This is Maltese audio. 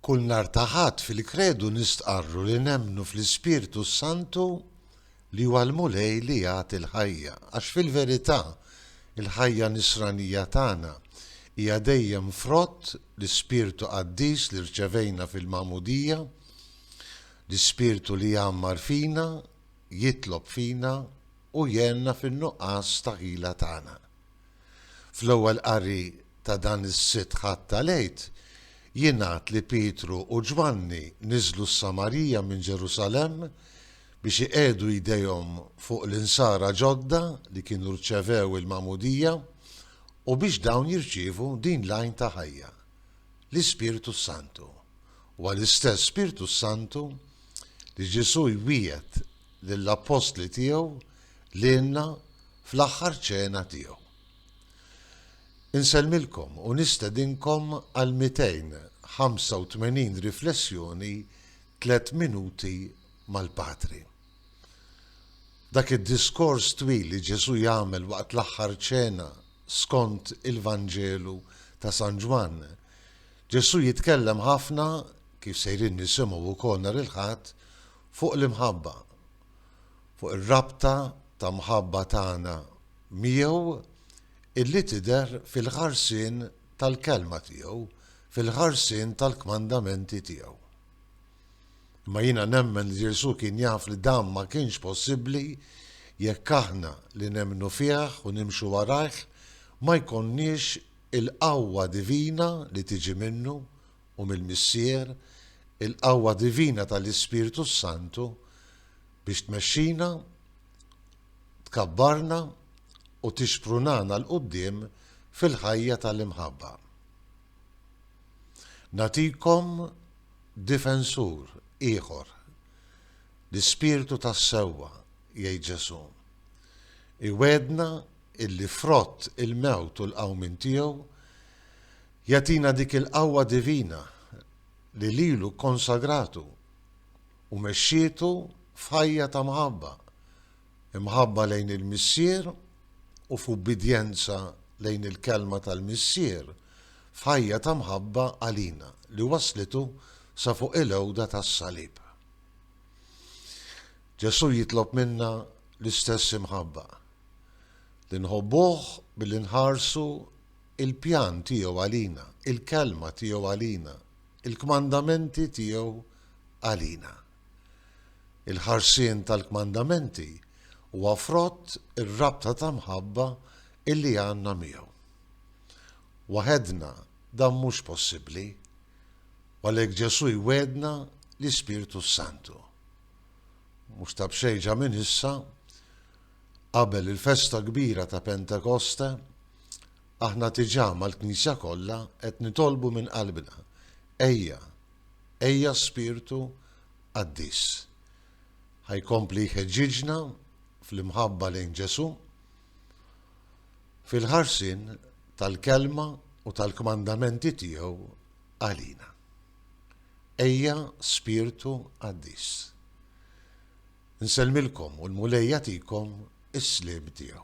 Kull nhar ta' Ħadd fil-Kredu nistqarru li nemmnu fl-Ispirtu s-Santu li huwa l-Mulej li jagħti l-ħajja, għax fil-verità il-ħajja nisranija tagħna hija dejjem frott l-Ispirtu Qaddis li rċevejna fil-Magħmudija, l-Ispirtu li jgħammar fina, jitlob fina u jgħenna fin-nuqqas ta' ħila tagħna. Fl-ewwel qari ta' dan is-Sitt Ħadd tal-Għid, jingħad li Pietru u Ġwanni niżlu s-Samarija minn Ġerusalemm biex iqiegħdu jdejhom fuq l-insara ġodda li kienu rċevew il-magħmudija u biex dawn jirċievu din l-għajn ta' ħajja, l-Ispirtu s-Santu. Huwa l-istess Spirtu s-Santu li Ġesù jwiegħed lill-appostli tiegħu, lilna fl-aħħar ċena tiegħu. Insellmilkom u nistedinkom għal 285 riflessjoni Tliet Minuti mal-Patri. Dak id-diskors twil li Ġesù jagħmel waqt l-aħħar ċena skont il-Vanġelu ta' San Ġwann, Ġesù jitkellem ħafna, kif sejrin nisimgħu wkoll nhar il-Ħadd, fuq l-imħabba, fuq ir-rabta ta' mħabba tagħna miegħu illi tidher fil-ħarsien tal-Kelma tiegħu, fil-ħarsien tal-kmandamenti tiegħu. Imma jiena nemmen li Ġesù kien jaf li dan ma kienx possibbli jekk aħna li nemmnu fih u nimxu warajh ma jkollniex il-qawwa divina li tiġi minnu u mill-Missier il-qawwa divina tal-Ispirtu s-Santu biex tmexxina, tkabbarna u tixprunana 'l quddiem fil-ħajja tal-imħabba. Nagħtikom difensur ieħor, l-Ispirtu tas-sewwa, jgħid Ġesù. Iwegħedna illi frott il-mewt u l-qawmien tiegħu Jagħtina dik il-qawwa divina li lilu kkonsagratu u mexxietu f'ħajja ta' mħabba, imħabba lejn il-Missier u f'ubbidjenza lejn il-Kelma tal-Missier f'ħajja ta' mħabba għalina li wasslitu sa fuq il-għewda tas-salib. Ġesù jitlob minna l-istess imħabba, li nħobbuh billi nħarsu il-pjan tiegħu għalina, il-kelma tiegħu għalina, il-kmandamenti tiegħu għalina. Il-ħarsien tal-kmandamenti huwa frott ir-rabta ta' mħabba illi għandna miegħu. Waħedna dan mhux possibbli, u għalhekk Ġesù jwegħedna l-Ispirtu s-Santu. Mhux ta' b'xejn ġa minn issa, qabel il-festa kbira ta' Pentekoste, Aħna diġà mal-Knisja kollha qed nitolbu minn qalbna, Ejja, ejja Spirtu Qaddis. Ħa jkompli jħeġġiġna fl-imħabba lejn Ġesù, fil-ħarsien tal-Kelma u tal-kmandamenti tiegħu għalina. Ejja Spirtu Qaddis. Nsellmilkom u l-Mulej jagħtikom is-sliem tiegħu.